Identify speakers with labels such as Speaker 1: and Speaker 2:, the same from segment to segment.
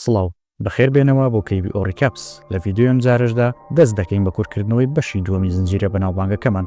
Speaker 1: سڵاو، بەخێر بێنەوە بۆ کەیبی ئۆ ڕیکاپس، لە ڤیدیۆی ئەم جارەشدا دەست دەکەین بە کورتکردنەوەی بەشی دووەمی زنجیرە بەناوبانگەکەمان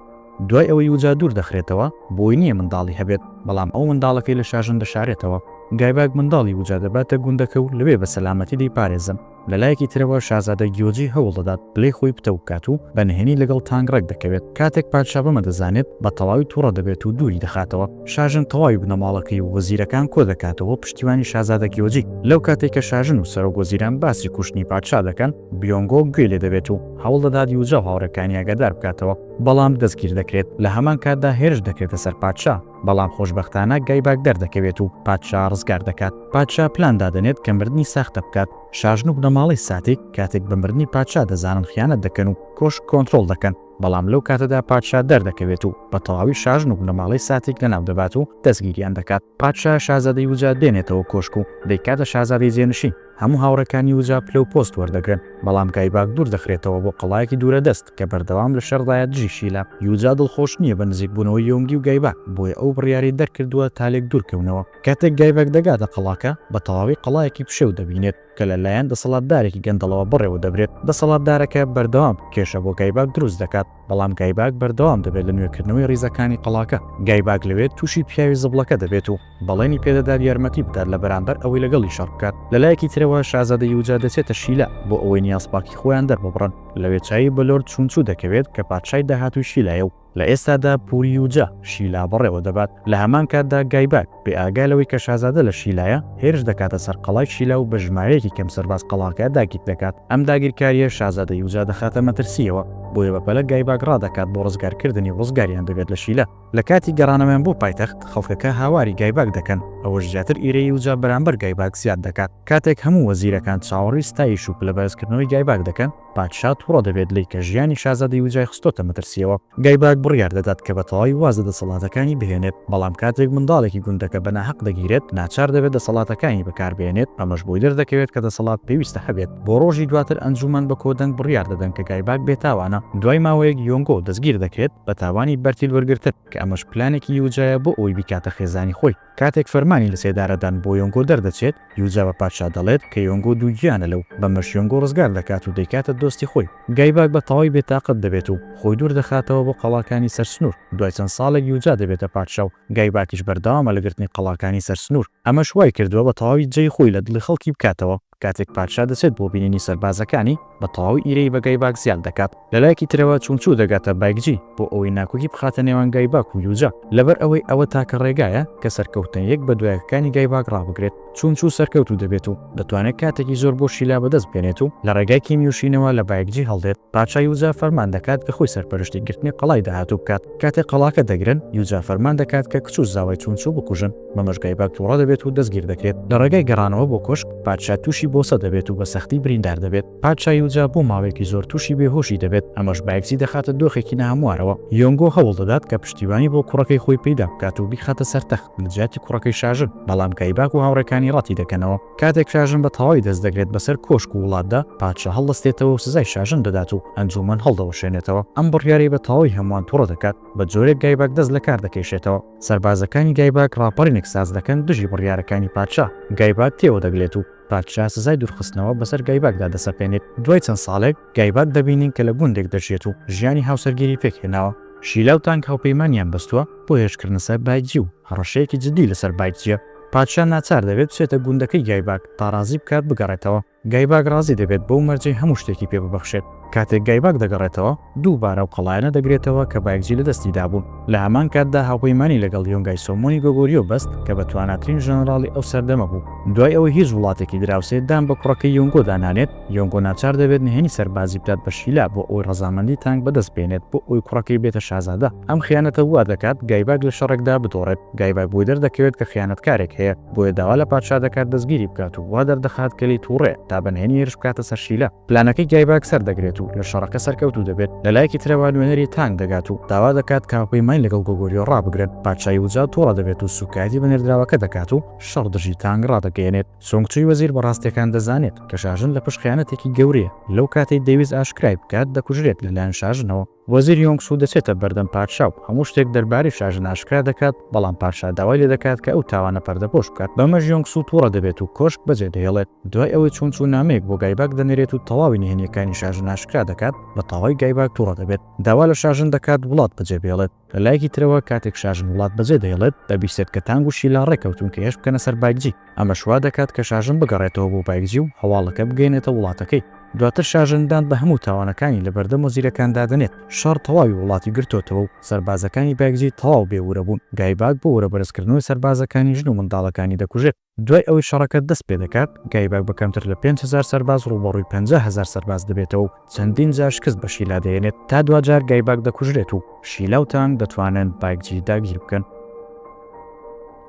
Speaker 1: دوای ئەوەی یوجا دوور دەخرێتەوە، بۆی نییە منداڵی هەبێت، بەڵام ئەو منداڵەکەی لە شاژن دەشارێتەوە، گایباک منداڵی یوجا دەباتە گوندەکە و لەوێ بە سەلامەتی دەیپارێزن، لە لایەکی ترەوە شازادە گیۆجی هەوڵ دەدات پلەی خۆی پتەو بکات و بە نهێنی لەگەڵ تانگ ڕێک دەکەوێت، کاتێک پادشا بەمە دەزانێت بە تەواوی توڕە دەبێت و دووری دەخاتەوە. شاژن تەواوی بنەماڵەکەی و وەزیرەکان کۆ دەکاتەوە بۆ پشتیوانی شازادە گیۆجی، لەو کاتەی کە شاژن و سەرۆک وەزیران باسی کوشتنی پادشا دەکەن، بیۆنگۆ گوێی لێ دەبێت و هەوڵ دەدات یوجا و هاوڕێکانی ئاگادار بکاتەوە، بەڵام دەستگیر دەکرێت، لە هەمان کاتدا هێرش دەکرێتە سەر پادشا، بەڵام خۆشبەختانە گایباک دەردەکەوێت و پادشا ڕزگار دەکات، پادشا پلان دادەنێت کە مردنی ساختە بکات، شاژن و بنەماڵەی ساتیک کاتێک بە مردنی پادشا دەزانن خیانەت دەکەن و کۆشک کۆنترۆڵ دەکەن، بەڵام لەو کاتەدا پادشا دەردەکەوێت و بە تەواوی شاژن و بنەماڵەی ساتێک لەناو دەبات و دەستگیریان دەکات. پادشا شازادەی وجا دێنێتەوە کۆشک و دەیکاتە شازادەی جێنشین. هەموو هاوڕێکانی وجا پلە و پۆست وەردەگرن، بەڵام گایباک دوور دەخرێتەوە بۆ قەڵایەکی دوورە دەست کە بەردەوام لە شەڕدایە دژی شیلا. یوجا دڵخۆش نییە بە نزیکبوونەوەی یۆنگی و گایباک، بۆیە ئەو بڕیاری دەرکردووە تا لێک دوورکەونەوە. کاتێک گایباک دەگاتە قەڵاکە، بە تەواوی قەڵایەکی پشێو دەبینێت. کە لە لایەن دەسەڵاتدارێکی گەندەڵەوە بەڕێوە دەبرێت، دەسەڵاتدارەکە بەردەوام کێشە بۆ گایباک دروست دەکات، بەڵام گایباک بەردەوام دەبێت لە نوێکردنەوەی ریزەکانی قەڵاکە، گایباک لەوێ تووشی پیاوی زبڵەکە دەبێت و بەڵێنی پێ دەدات یارمەتی بدات لە بەرامبەر ئەوەی لەگەڵی شەڕ بکات. لە لایەکی ترەوە شازادە یوجا دەچێتە شیلا بۆ ئەوەی نیازپاکی خۆیان دەرببڕن، لەوێ چاوی بە لۆرد چونچو دەکەوێت کە پادشای داهاتووی شیلایە و، لە ئێستادا پوریوجا شیلا بەڕێوە دەبات، لە هەمان کاتدا گایباک بێ ئاگا لەوەی کە شازادە لە شیلایە، هێرش دەکاتە سەر قەڵای شیلا و بە ژمارەیەکی کەم سەرباز قەڵاکە داگیر دەکات، ئەم داگیرکارییە شازادە یوجا دەخاتە مەترسییەوە، بۆیە بەپەلە گایباک ڕادەکات بۆ ڕزگارکردنی و ڕزگاریان دەبێت لە شیلا. لە کاتی گەڕانەوەیان بۆ پایتەخت، خەڵکەکە هاواری گایباک دەکەن، ئەوەش زیاتر ئیرەی یوجا بەرامبەر گایباک زیاد دەکات، کاتێک هەموو وەزیرەکان چاوەڕێی ستایش و پلەبەرزکردنەوەی گایباک دەکەن، پادشا توڕە دەبێت لێی کە ژیانی شازادەی وجای خستۆتە مەترسیەوە. گایباک بڕیار دەدات کە بە تەواوی واز لە دەسەڵاتەکانی بهێنێت، بەڵام کاتێک منداڵێکی گوندەکە بە ناهەق دەگیرێت، ناچار دەبێت دەسەڵاتەکانی بەکاربهێنێت، ئەمەش بۆی دەردەکەوێت کە دەسەڵات پێویستە هەبێت. بۆ ڕۆژی دواتر ئەنجوومەن بە کۆدەنگ بڕیار دەدەن کە گایباک بێتاوانە. دوای ماوەیەک یۆنگۆ دەستگیر دەکرێت بە تاوانی بەرتیل وەرگرتن، کە ئەمەش پلانێکی وجایە بۆ ئەوەی بیکاتە خێزانی خۆی. کاتێک فەرمانی لەسێدارەدان بۆ یۆنگۆ دەردەچێت، یوجا بە پادشا دەڵێت کە یۆنگۆ دووگیانە لەو، بەمەش یۆنگۆ ڕزگار دەکات و دەیکاتە دۆستی خۆی. گایباک بە تەواوی بێتاقەت دەبێت و خۆی دوور دەخاتەوە بۆ قەڵاکانی سەر سنوور. دوای چەند ساڵێک یوجا دەبێتە پادشا و گایباکیش بەردەوامە لە گرتنی قەڵاکانی سەر سنوور. ئەمەش وایکردووە بە تەواوی جێی خۆی لە دڵی خەڵکی بکاتەوە. کاتێک پادشا دەچێت بۆ بینینی سەربازەکانی، بە تەواوی ئیرەیی بە گایباک زیاد دەکات. لە لایەکی ترەوە چونگچو دەگاتە بایکجی بۆ ئەوەی ناکۆکی بخاتە نێوان گایباک و یوجا، لەبەر ئەوەی ئەوە تاکە ڕێگایە کە سەرکەوتنە یەک بە دوایەکەکانی گایباک ڕابگرێت. چونگچو سەرکەوتوو دەبێت و دەتوانێت کاتێکی زۆر بۆ شیلا بەدەست بێنێت و لە ڕێگای کیمیوشینەوە لە بایکجی هەڵدێت. پادشا یوجا فەرمان دەکات کە خۆی سەرپەرشتی گرتنی قەڵای داهاتوو بکات. کاتێک قەڵاکە دەگرن، یوجا فەرمان دەکات کە کچ و زاوای چونچو بکوژن، بەمەش گایباک تووڕە دەبێت و دەستگیر دەکرێت. لە ڕێگای گەڕانەوە بۆ کۆشک، پادشا تووشی بۆسە دەبێت و بە سەختی بریندار دەبێت. پادشا یوجا بۆ ماوەیەکی زۆر تووشی بێهۆشی دەبێت، ئەمەش بایکزی دەخاتە دۆخێکی ناهەموارەوە. یۆنگۆ هەوڵ دەدات کە پشتیوانی بۆ کوڕەکەی خۆی پەیدا بکات و بیخاتە سەر تەخت لە جیاتی کوڕەکەی شاژن، بەڵام گایباک و هاوڕێکانی ڕەتی دەکەنەوە. کاتێک شاژن بە تەواوی دەست دەگرێت بەسەر کۆشک و وڵاتدا، پادشا هەڵدەستێتەوە و سزای شاژن دەدات و ئەنجوومەن هەڵدەوەشێنێتەوە. ئەم بڕیارەی بە تەواوی هەمووان توڕە دەکات، بە جۆرێک گایباک دەست لە کار دەکێشێتەوە. سەربازەکانی گایباک ڕاپەڕینێک ساز دەکەن دژی بڕیارەکانی پادشا. گایباک تێوە دەگلێت و پادشا سزای دوورخستنەوە بەسەر گایباکدا دەسەپێنێت. دوای چەند ساڵێک، گایباک دەبینین کە لە گوندێک دەژیێت و ژیانی هاوسەرگیری پێک هێناوە. شیلا و تانگ هاوپەیمانیان بەستووە بۆ هێرشکردنە سەر بایتجی و هەڕەشەیەکی جددی لەسەر بایتجییە. پادشا ناچار دەبێت بچێتە گوندەکەی گایباگ تا ڕازی بکات بگەڕێتەوە. گایباگ ڕازی دەبێت بەو مەرجەی هەموو شتێکی پێ ببەخشێت. کاتێک گایباگ دەگەڕێتەوە، دووبارە ئەو قەڵایانە دەگرێتەوە کە بایگجی لە دەستی دابوون. لە هەمان کاتدا هاوپەیمانی لەگەڵ یۆنگای سۆمۆنی گۆگۆریۆ بەست کە بەتواناترین ژەنەڕاڵی ئەو سەردەمە بوو. دوای ئەوەی هیچ وڵاتێکی دراوسێ دان بە کوڕەکەی یۆنگۆدا نانێت، یۆنگۆ ناچار دەبێت نهێنی سەربازی بدات بە شیلا بۆ ئەوەی ڕەزامەندی تانگ بەدەست بێنێت بۆ ئەوەی کوڕەکەی بێتە شازادە. ئەم خیانەتە وا دەکات گایباک لە شەڕێکدا بدۆڕێت. گایباک بۆی دەردەکەوێت کە خیانەتکارێک هەیە، بۆیە داوا لە پادشا دەکات دەستگیری بکات و وا دەردەخات کە لێی تووڕەیە تا بە نهێنی هێرش بکاتە سەر شیلا. پلانەکەی گایباک سەردەگرێت و لە شەڕەکە سەرکەوتوو دەبێت. لە لایەکی ترەوە نوێنەری تانگ دەگات و داوا دەکات کە هاوپەیمانی لەگەڵ گۆگۆریۆ ڕابگرن. پادشای وجا تووڕە دەبێت و سووکایەتی بە نێردراوەکە دەکات و شەڕ دژی تانگ ڕادەگەیەنێت. سونگ چوی وەزیر بە ڕاستیەکان دەزانێت کە شاژن لە پشت خیانەتێکی گەورەیە، لەو کاتەی دەیویست ئاشکرای بکات دەکوژرێت لە لایەن شاژنەوە، وەزیر یۆنگ سو دەچێتە بەردەم پادشا و هەموو شتێک دەربارەی شاژن ئاشکرا دەکات، بەڵام پادشا داوای لێ دەکات کە ئەو تاوانە پەردەپۆش بکات، بەمەش یۆنگ سو توڕە دەبێت و کۆشک بەجێ دەهێڵێت، دوای ئەوەی چون چو نامەیەک بۆ گایباک دەنێرێت و تەواوی نهێنیەکانی شاژن ئاشکرا دەکات، بە تەواوی گایباک توڕە دەبێت، داوا لە شاژن دەکات وڵات بەجێ بهێڵێت. لە لایەکی ترەوە کاتێک شاژن وڵات بەجێ دەهێڵێت، دەبیستێت کە تانگ و شیلا ڕێ کەوتوون کە هێرش بکەنە سەر بایکجی، ئەمەش وا دەکات کە شاژن بگەڕێتەوە بۆ بایکجی و هەواڵەکە بگەیەنێتە وڵاتەکەی. دواتر شاژن دان بە هەموو تاوانەکانی لە بەردەم وەزیرەکاندا دەنێت. شەڕ تەواوی وڵاتی گرتۆتەوە و سەربازەکانی بایکجی تەواو بێ ورە بوون. گایباک بۆ ورە بەرزکردنەوەی سەربازەکانی ژن و منداڵەکانی دەکوژێت. دوای ئەوەی شەڕەکە دەست پێدەکات، گایباک بە کەمتر لە پێنج هەزار سەرباز ڕووبەڕووی پەنجا هەزار سەرباز دەبێتەوە و چەندین جار شکست بە شیلا دەهێنێت، تا دواجار گایباک دەکوژرێت و شیلا و تانگ دەتوانن بایکجی داگیر بکەن.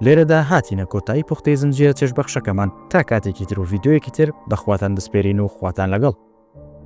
Speaker 1: لێرەدا هاتینە کۆتایی پوختەی زنجیرە چێژبەخشەکەمان، تا کاتێکی تر و ڤیدیۆیەکی تر بەخواتان دەسپێرین و خواتان لەگەڵ.